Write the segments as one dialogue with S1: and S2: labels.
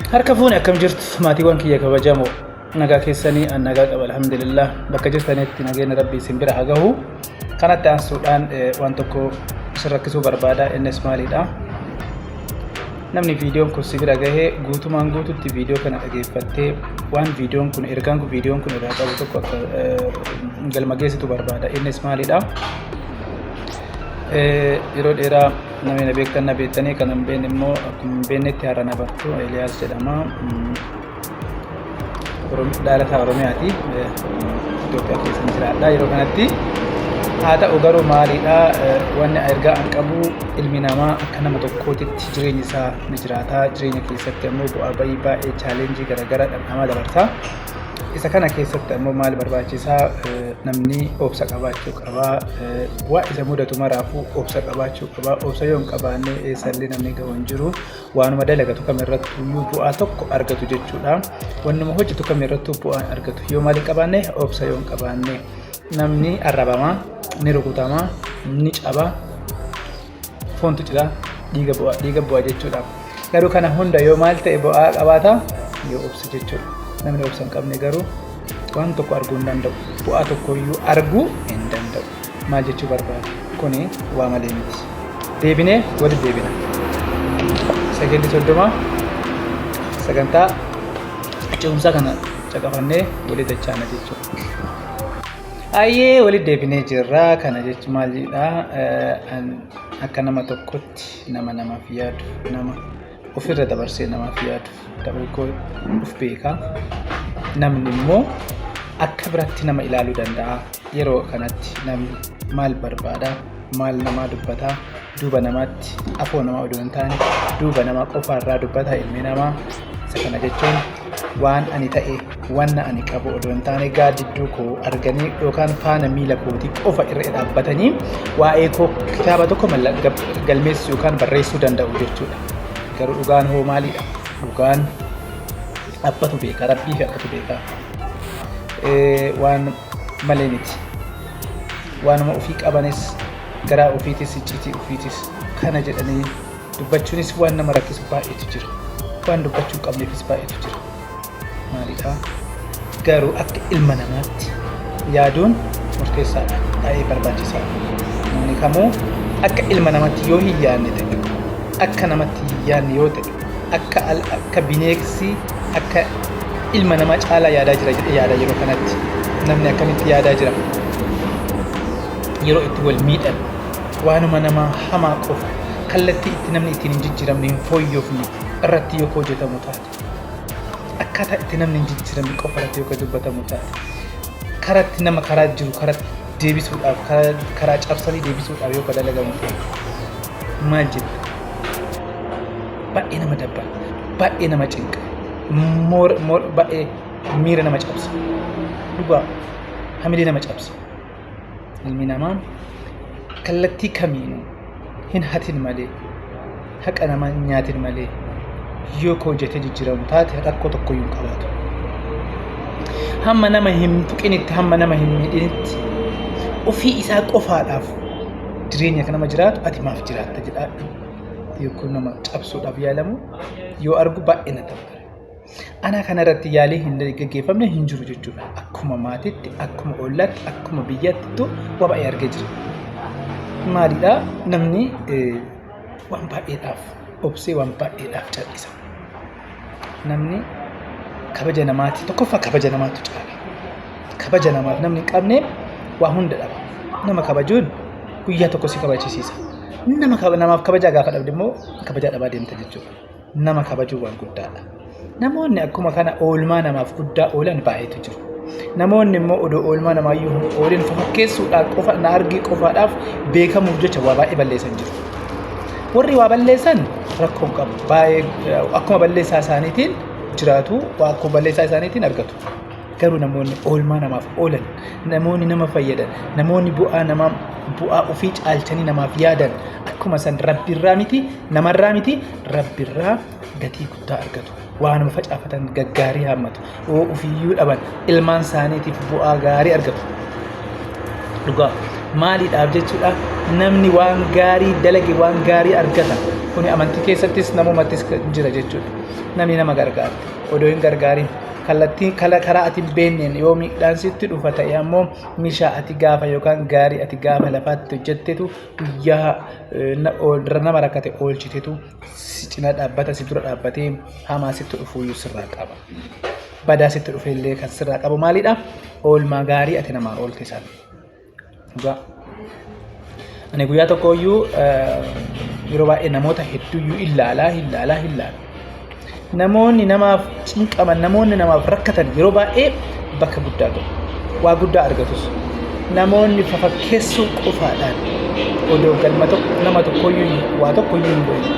S1: Harka fuune akkam jirtu maatiiwwan kiyya kabajamoo nagaa keessanii an nagaa qaba alhamdulillah bakka jirtanitti nageenya rabbii isin bira haa gahu kanatti aansuudhaan eh, waan tokko isin rakkisuu barbaada innis maalidha namni viidiyoon kun si bira gahee guutumaan guututti viidiyoo kana dhageeffattee waan viidiyoon kun ergaan kun viidiyoon kun irraa qabu tokko akka eh, galma geessitu barbaada innis maalidha Eh, yeroo dheeraa Namni na beektan na beektanii kan hin beekne immoo akkuma hin beeknetti har'a na bartu Eeliyaas jedhama. Dhaalataa Oromiyaati. Itoophiyaa keessa hin jiraadha yeroo kanatti. Haa ta'u garuu maalidha wanni ergaa an qabu ilmi namaa akka nama tokkootitti jireenyi isaa ni jiraata. Jireenya keessatti ammoo bu'aa ba'ii baay'ee chaalenjii garaagaraa dhamdhamaa dabarsa. Isa kana keessatti ammoo maal barbaachisaa namni obsa qabaachuu qabaa waa isa mudatu maraafuu obsa qabaachuu qabaa obsa yoo hin qabaanne eessallee namni ga'u hin jiru waanuma dalagatu kam irratti iyyuu bu'aa tokko argatu jechuudha wannuma hojjetu kam irrattuu bu'aa argatu yoo maal hin qabaanne obsa yoo hin qabaanne namni arrabama ni rukutama ni caba Foontu cira dhiiga bu'a dhiiga bu'a jechuudha. Garuu kana hunda yoo maal ta'e bu'aa qabaata yoo obse jechuudha. Namni obsa hin qabne garuu waan tokko arguu hin danda'u. Bu'aa tokko iyyuu arguu hin danda'u. Maal jechuu barbaada? Kuni waa malee miti. Deebinee walitti deebina. Sagalli soddoma sagantaa ce'umsaa kana caqafannee walii dachaana jechuudha. Ayyee walitti deebinee jirra. Kana jechuun maalidha? Akka nama tokkotti nama namaaf yaadu, nama ofirra dabarsee namaaf yaadu ta'uu koo of beeka. Namni immoo akka biratti nama ilaaluu danda'a. Yeroo kanatti namni maal barbaada? Maal namaa dubbata? duuba namaatti afoo namaa odoo hin taane duuba namaa qofaa irraa dubbata ilmi namaa isa kana jechuun waan ani ta'e wanna ani qabu odoo hin taane gaaddidduu koo arganii yookaan faana miila kootii qofa irra dhaabbatanii waa'ee koo kitaaba tokko galmeessuu yookaan barreessuu danda'u jechuudha. Garuu dhugaan hoo maalidha? Dhugaan abbatu beeka rabbii fi abbatu beeka waan malee miti waanuma ofii qabanis Garaa ofiitis icciitii ofiitis kana jedhanii dubbachuunis waan nama rakkisu baay'eetu jira. Waan dubbachuu hin qabneefis baay'eetu jira. Maalidhaa? Garuu akka ilma namaatti yaaduun murteessaadha. Baay'ee barbaachisaadha. Namni kamuu akka ilma namaatti yoo hin yaadne ta'e, akka namatti hin yaadne yoo ta'e, Akka al akka bineeksi akka ilma namaa caalaa yaadaa jira jedhee yaada yeroo kanatti. Namni akkamitti yaadaa jira? Yeroo itti wal miidhan waanuma namaa hamaa qofa kallattii itti namni ittiin hin jijjiiramne hin fooyyofne irratti yoo hojjetamu taate akkaataa itti namni hin jijjiiramne qofa irratti yoo dubbatamu taate karatti nama karaa jiru karatti deebisuudhaaf karaa cabsanii deebisuudhaaf yoo dalagamu taate maal jetta baay'ee nama dabba baay'ee nama cinqa moor moor baay'ee miira nama cabsa dhugaa hamilee nama cabsa ilmi namaa kallattii kamiinuu hin hatin malee haqa namaa hin nyaatin malee yoo koo jetee jijjiiramu taate rakkoo tokko hin qabaatu. Hamma nama hin tuqinitti hamma nama hin miidhinitti ofii isaa qofaadhaaf jireenya akka nama jiraatu ati maaf jiraatta jedhaadhu yookiin nama cabsuudhaaf yaalamu yoo argu baay'ee na taphata. Ana kanarratti yaalii hin gaggeeffamne hin jiru jechuudha. Akkuma maatiitti, akkuma ollaatti, akkuma biyyaatti waa baay'ee argee jira. Maalidhaa namni waan baay'eedhaaf obsee waan baay'eedhaaf cal'isa. namni kabaja namaati tokkoffaa kabaja namaatu caala kabaja namaaf namni hin qabne waa hunda dhaba nama kabajuun guyyaa tokko si kabachisiisa nama kaba- namaaf kabajaa gaafa dhabde immoo kabajaa dhabaa deemta jechuudha nama kabajuu waan guddaadha namoonni akkuma kana oolmaa namaaf guddaa oolan baay'eetu jiru Namoonni immoo odoo oolmaa namaayyuu hin oolin fakkeessuudhaan qofa na argii qofaadhaaf beekamuuf jecha waa baay'ee balleessan jiru. Warri waa balleessan rakkoo hin qabu. Baay'ee akkuma balleessaa isaaniitiin jiraatu, akkuma balleessaa isaaniitiin argatu. Garuu namoonni oolmaa namaaf oolan, namoonni nama fayyadan, namoonni bu'aa namaa bu'aa ofii caalchanii namaaf yaadan akkuma san rabbiirraa miti namarraa miti rabbiirraa gatii guddaa argatu. Waanuma facaafatan gaggaarii haammatu. Yoo ofiyyuu dhaban ilmaan isaaniitiif bu'aa gaarii argatu. Dhugaa maaliidhaaf jechuudha namni waan gaarii dalage waan gaarii argata. Kuni amantii keessattis namumattis jira jechuudha. Namni nama gargaara. Odoo hin gargaarin kallattii kala karaa ati hin beekneen yoo miidhaan sitti dhufa ta'e ammoo mishaa ati gaafa yookaan gaarii ati gaafa lafaatti hojjettetu guyyaa eh, na- ool- nama rakkate oolchitetu si cina dhaabbata si dura dhaabbatee hamaa sitti dhufuuyyuu sirraa qaba. Badaa sitti dhufeellee kan sirraa qabu maalidha? Oolmaa gaarii ati namaa oolte sana. Dhugaa. Ani guyyaa tokkooyyuu yeroo baay'ee namoota hedduuyyuu illaalaa illaalaa illaalaa. Namoonni namaaf cinqaman, namoonni namaaf rakkatan yeroo baay'ee bakka guddaa gahu. Waa guddaa argatus. Namoonni fafakkeessuu qofaadhaan odoo galma tokko nama tokkoyyuu waa tokkoyyuu hin godhin.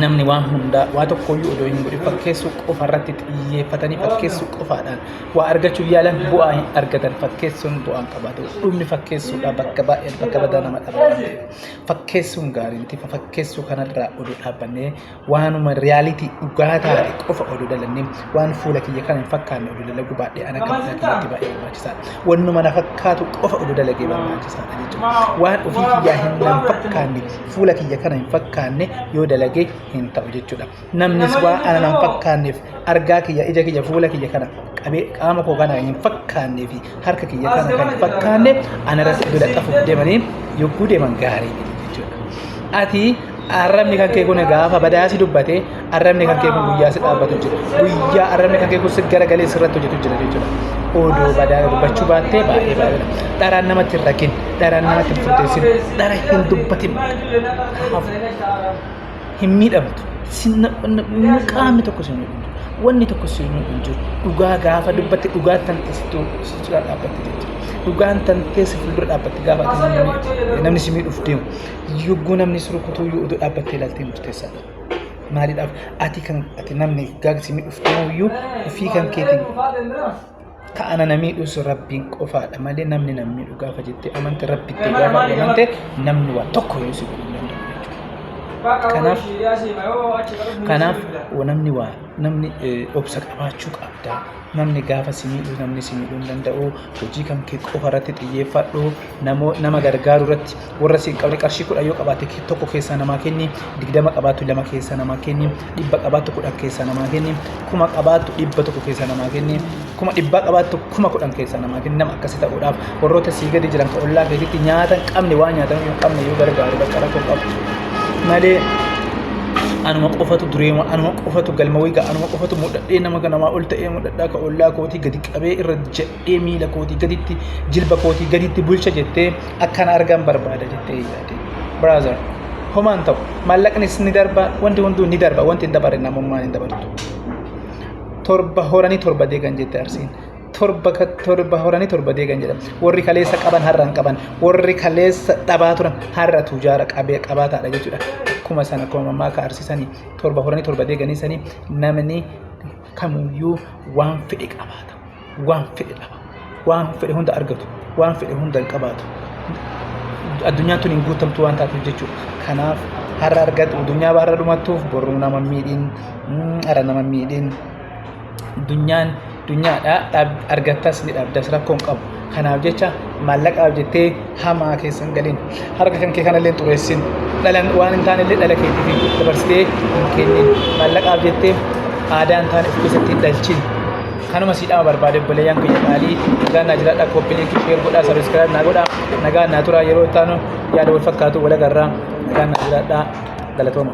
S1: Namni waan hundaa waa tokkoyyuu odoo hin godhin fakkeessuu qofa irratti xiyyeeffatanii fakkeessuu qofaadhaan waa argachuuf yaalan bu'aa hin argatan. Fakkeessuun bu'aa hin qabaatu. Dhumni fakkeessuudhaa bakka baay'ee bakka badaa nama dhabaa. fakkeessuun gaarii miti. Fakkeessuu kanarraa oduu dhaabbannee waanuma riyaalitii dhugaa taate qofa oduu dalannee waan fuula kiyya kana hin fakkaanne oduu dalaguu baadhee ana kan fuula kiyyatti baay'ee barbaachisaadha. Wannuma na fakkaatu qofa oduu dalagee barbaachisaadha jechuudha. Waan ofii kiyyaa hin nan fakkaanne fuula kiyya kana hin fakkaanne yoo dalagee hin ta'u jechuudha. namnis waa ana nan fakkaanneef argaa kiyya ija kiyya fuula kiyya kana qabee qaama koo kana hin fakkaannee fi harka kiyya kana kan hin fakkaanne ana irratti bira qafuuf deemanii yogguu deeman gaarii jechuudha. Ati arrabni kan kee kun gaafa badaasi dubbate arrabni kan kee kun guyyaa si dhaabbatu jira guyyaa arrabni kan kee kun si garagalee sirratti hojjetu jira jechuudha. Odoo badaa dubbachuu baattee baay'ee baay'eedha. Dharaan namatti hin rakin, dharaan namatti hin furteessin, dhara hin dubbatin. Kanaaf hin miidhamtu. Sinna qaamni tokko sinna dhumtu. Wanni tokko sinna dhumtu. Dhugaa gaafa dubbatte dhugaan tantee sitti sichira dhaabbatte jechuudha. Dhugaan tantee si fuuldura dhaabbatte gaafa ati namni si miidhuuf deemu. Yogguu namni si rukutuu yoo oduu dhaabbattee ilaaltee murteessaa dha. Maaliidhaaf ati kan ati namni gaafa si miidhuuf deemu iyyuu ofii kan keetiin Ka ana na miidhus rabbiin qofaadha malee namni na miidhu gaafa jettee amante rabbitti gaafa amante namni waa tokko yoo si godhu hin danda'u jechuudha. Kanaaf kanaaf wa- namni waa namni eh, obsa qabaachuu qabda. Namni gaafa si miidhu namni si miidhuu hin danda'u. Hojii kan kee qofa irratti xiyyeeffadhu. namoo nama gargaaru irratti warra si hin qabne qarshii kudhan yoo qabaatte ke- tokko keessaa namaa kenni digdama qabaattu lama keessaa namaa kenni dhibba qabaattu kudhan keessaa namaa kenni kuma qabaattu dhibba tokko keessaa namaa kenni kuma dhibbaa qabaattu kuma kudhan keessaa namaa kenni nama akkasi ta'uudhaaf warroota sii gadi jiran ka ollaa keetitti nyaata hin qabne waan nyaatan hin qabne yoo gargaaru bakka rakkoo qabu malee anuma qofatu dureema anuma qofatu galma wayga anuma qofatu mudhadhee nama namaa ol ta'ee mudhadhaa ka ollaa kootii gadi qabee irra jedhe Ee miila kootii gaditti jilba kootii gaditti bulcha jettee akkan argan barbaada jettee yaade. Brother, homaan ta'u maallaqnis ni darba wanti hunduu ni darba wanti hin dabarre namummaan hin dabartu. Torba horanii torba deegan jette arsiin. Torba ka- torba horanii torba deegan jedhama. Warri kaleessa qaban har'a hin qaban. Warri kaleessa dhabaa turan har'a tujaara qabee qabaataadha jechuudha. Akkuma sana akkuma mammaa ka arsisanii torba horanii torba deeganii sanii namni kamuyyuu waan fedhe qabaata. waan fedhe dhaba waan fedhe hunda argatu waan fedhe hunda hin qabaatu addunyaan tun hin guutamtu waan taatuuf jechuudha kanaaf har'a argatu addunyaa baarra dhumattuuf boruu nama hin miidhin mm, har'a nama hin miidhin addunyaan addunyaadha dhaab- argattas ni dhabdas rakkoo hin qabu kanaaf jecha Maallaqaaf jettee hamaa keessa hin galin. Harka kan kee kanallee hin xureessin. Dhalan waan hin taanellee dhala keetiif dabarsitee hin kennin. Maallaqaaf jettee aadaa hin taane of keessatti hin dhalchin. Kanuma siidhama barbaade obboleeyyan kiyya qaalii nagaan naa jiraadha koppii liinkii sheer godhaa sabiskiraayib naa godhaa nagaan naa turaa yeroo itti aanu yaada wal fakkaatu wal agarraa nagaan naa jiraadha galatooma.